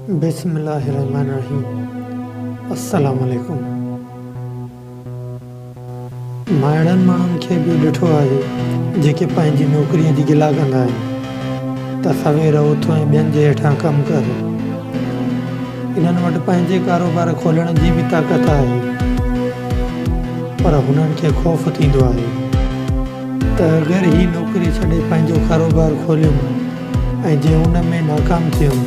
بسم الله الرحمٰن الرحيم السلام عليڪم مون اهڙن ماڻهن کي به ڏٺو آهي جيڪي پنهنجي نوڪري جي گلا ڪندا آهن ته سوير اٿ ۽ ٻين جي هيٺان ڪم ڪر انهن وٽ پنهنجي ڪاروبار کولڻ جي به طاقت آهي پر هنن کي خوف ٿيندو آهي ته اگر هي نوڪري ڇڏي پنهنجو ڪاروبار کوليم ۽ جي ان ۾ ناڪام ٿيم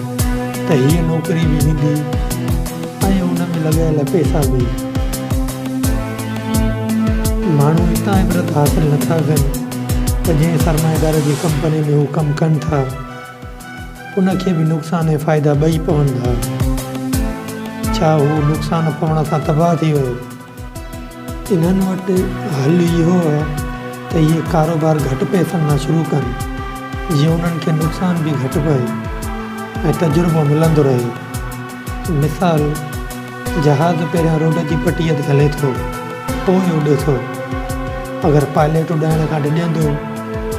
ته هيء نوڪري به ويندي ۽ ان ۾ لڳايل پئسا به. ماڻهو اتان عبرت حاصل نٿا ڪن ته جنهن سرمائيدار جي ڪمپني ۾ هو ڪم ڪن ٿا، ان کي به نقصان ۽ فائدا ٻئي پون ٿا. ڇا هو نقصان پوڻ سان تباهه ٿي ويو؟ انهن وٽ حل اهو هو ته اهي ڪاروبار گهٽ پئسن مان شروع ڪن جيئن انهن کي نقصان به گهٽ پئي ۽ تجربو ملندو رهي. مثال، جهاز پهريان روڊ جي پٽيء تي هلي ٿو، پوء اڏي ٿو. اگر پائليٽ اڏائڻ کان ڊڄندو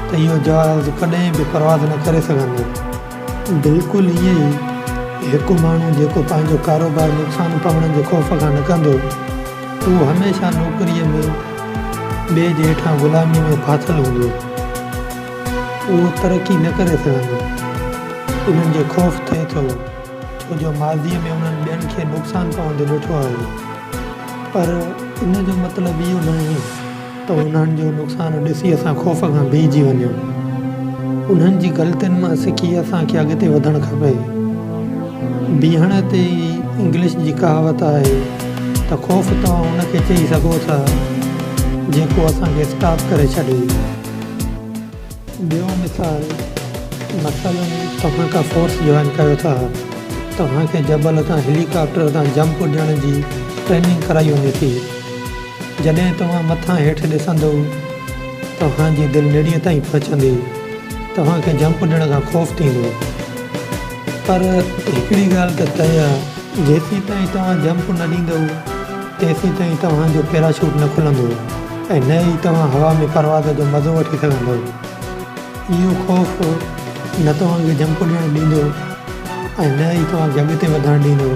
ته اهو جهاز ڪڏهن به پرواز نه ڪري سگهندو. بلڪل ائين ئي هڪ ماڻهو جيڪو پنهنجو ڪاروبار نقصان پوڻ جي خوف کان نه ڪندو اهو هميشه نوڪريء ۾ ٻئي جي هيٺان غلاميء ۾ ڦاٿل هوندو اهو ترقي نه ڪري سگهندو انهن جي خوف ٿئي ٿو ڇو جو ماضيء ۾ انهن ٻين کي نقصان پوندو ڏٺو آهي پر ان جو مطلب اهو ناهي ته انهن جو نقصان ڏسي اسان خوف کان بيهجي وڃون. انهن جي غلطين مان سکي اسان کي اڳتي وڌڻ کپي. بيهڻ تي ئي انگلش جي ڪهاوت آهي ته خوف توهان ان کي چئي سگهو ٿا جيڪو اسان کي اسٽاپ ڪري ڇڏي. ٻيو مثال، مثلاً توهان ڪا فورس جوائن ڪيو ٿا، توهان کي جبل تان هيلي ڪاپٽر تان جمپ اڏيڻ جي ٽريننگ ڪرائي وڃي ٿي، جڏهن توهان مٿان هيٺ ڏسندو توهان جي دل نڙيء تائين پهچندي توهان کي جمپ ڏيڻ کان خوف ٿيندو پر هڪڙي ڳالهه ته طئي آ جيسيتائين توهان جمپ نه ڏيندو تيسيتائين توهان جو پيراشوٽ نه کلندو ۽ نه ئي توهان هوا ۾ پرواز جو مزو وٺي سگهندو اهو خوف نه توهان کي جمپ ڏيڻ ڏيندو ۽ نه ئي توهان کي اڳتي وڌڻ ڏيندو.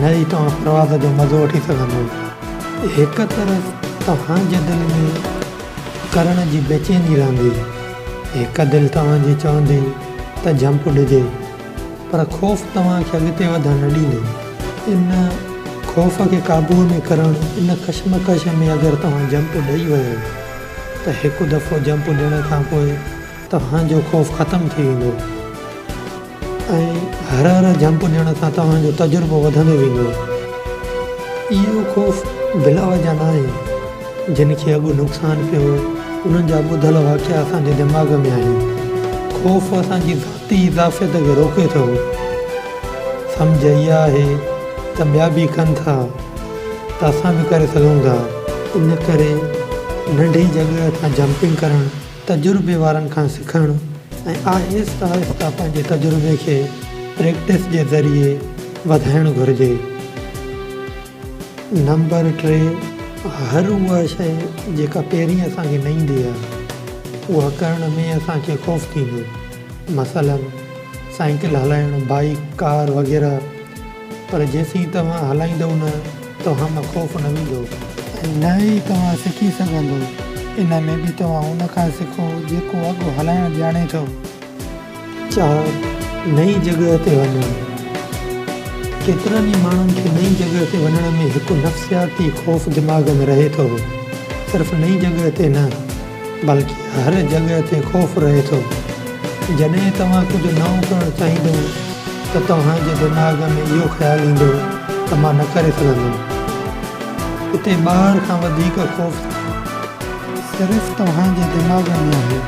نه ئي توهان پرواز جو مزو وٺي سگهندو. هڪ طرف توهان جي دل ۾ ڪرڻ جي بيچيني رهندي، هڪ دل توهان جي چوندي ته جهمپ ڏجي، پر خوف توهان کي اڳتي وڌڻ نه ڏيندو. ان خوف کي قابوء ۾ ڪرڻ، ان ڪشمڪش ۾ اگر توهان جهمپ ڏئي ويو ته هڪ دفعو جهمپ ڏيڻ کان پوء توهان جو خوف ختم ٿي ويندو ۽ هر هر جمپ ڏيڻ سان توهان جو تجربو وڌندو ويندو. اهو خوف بلا وجهه ناهي. جن کي اڳ نقصان پيو هو انهن جا ٻڌل واقعا اسان جي دماغ ۾ آهن. خوف اسان جي ذاتي اضافيت کي روڪي ٿو. سمجهه اها آهي ته ٻيا به ڪن ٿا ته اسان به ڪري سگهون ٿا. ان ڪري ننڍي جڳهه تان جمپنگ ڪرڻ تجربي وارن کان سکڻ ۽ آهستي آهستي پنهنجي تجربي کي پريڪٽس جي ذريعي وڌائڻ گهرجي. نمبر ٽي، هر اها شيء جيڪا پهرين اسان کي نه ايندي آهي، اها ڪرڻ ۾ اسان کي خوف ٿيندو. مثلاً سائيڪل هلائڻ، بائيڪ، ڪار وغيره. پر جيسين توهان هلائيندؤ نه، توهان مان خوف نه ويندو، ۽ نه ئي توهان سکي سگهندؤ، ان ۾ به توهان ان کان سکو، جيڪو اڳ هلائڻ ڄاڻي ٿو. چار، نئين جڳهه تي وڃڻ، ڪيترن ئي ماڻهن کي نئين جڳهه تي وڃڻ ۾ هڪ نفسياتي خوف دماغ ۾ رهي ٿو، صرف نئين جڳهه تي نه، بلڪ هر جڳهه تي خوف رهي ٿو. جڏهن توهان ڪجهه نئون ڪرڻ چاهيندو ته توهان جي دماغ ۾ اهو خيال ايندو ته مان نه ڪري سگهندم. اتي ٻاهر کان وڌيڪ خوف صرف توهان جي دماغ ۾ آهي.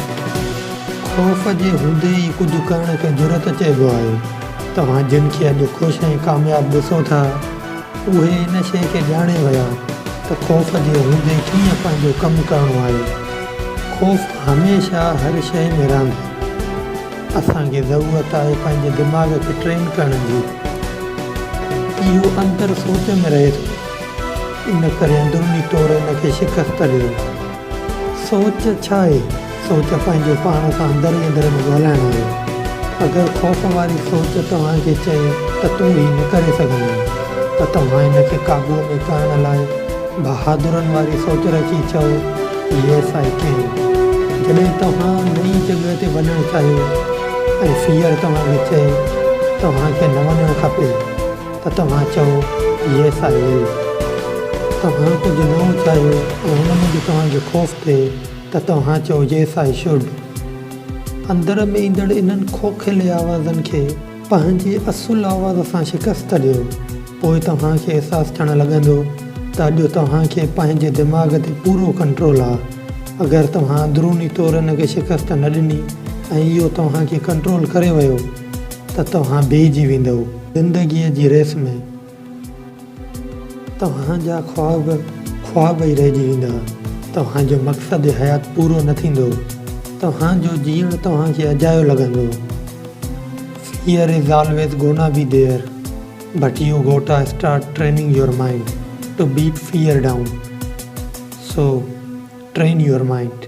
خوف جي هوندي ئي ڪجهه ڪرڻ کي جرئت چئبو آهي. توهان جن کي اڄ خوش ۽ ڪامياب ڏسو ٿا. اهي ان شيء کي ڄاڻي ويا ته خوف جي هوندي ڪيئن پنهنجو ڪم ڪرڻو آهي. خوف هميشه هر شيء ۾ رهندو. اسان کي ضرورت آهي پنهنجي دماغ کي ٽرين ڪرڻ جي. اهو اندر سوچ ۾ رهي ٿو، ان ڪري اندروني طور ان کي شڪست ڏيو. سوچ ڇا آهي؟ سوچ پنهنجو پاڻ سان اندر ئي اندر ۾ ڳالهائڻ آهي. اگر خوف واري سوچ توهان کي چئي ته تون هي نه ڪري سگهندين ته توهان ان کي قابوء ۾ ڪرڻ لاء بهادرن واري سوچ رکي چئو Yes I can. جڏهن توهان نئين جڳهه تي وڃڻ چاهيو ۽ Fear توهان کي چئي توهان کي نه وڃڻ کپي. ته توهان چئو، Yes I will. توهان ڪجهه نئون چاهيو ۽ ان موجب توهان کي خوف ٿئي ته توهان چئو، Yes I should. اندر ۾ ايندڙ انهن کوکيلي آوازن کي پنهنجي اصل آواز سان شڪست ڏيو. پوء توهان کي احساس ٿيڻ لڳندو ته اڄ توهان کي پنهنجي دماغ تي پورو ڪنٽرول آ. اگر توهان اندروني طور ان کي شڪست نه ڏني ۽ اهو توهان کي ڪنٽرول ڪري ويو ته توهان بيهجي ويندؤ. زندگيء جي ريس ۾ توهان جا خواب خواب ئي رهجي ويندا، توهان جو مقصد حيات پورو نه ٿيندو، توهان جو جيئڻ توهان کي اجايو لڳندو. Fear is always gonna be there but you gotta start training your mind to beat fear down so train your mind.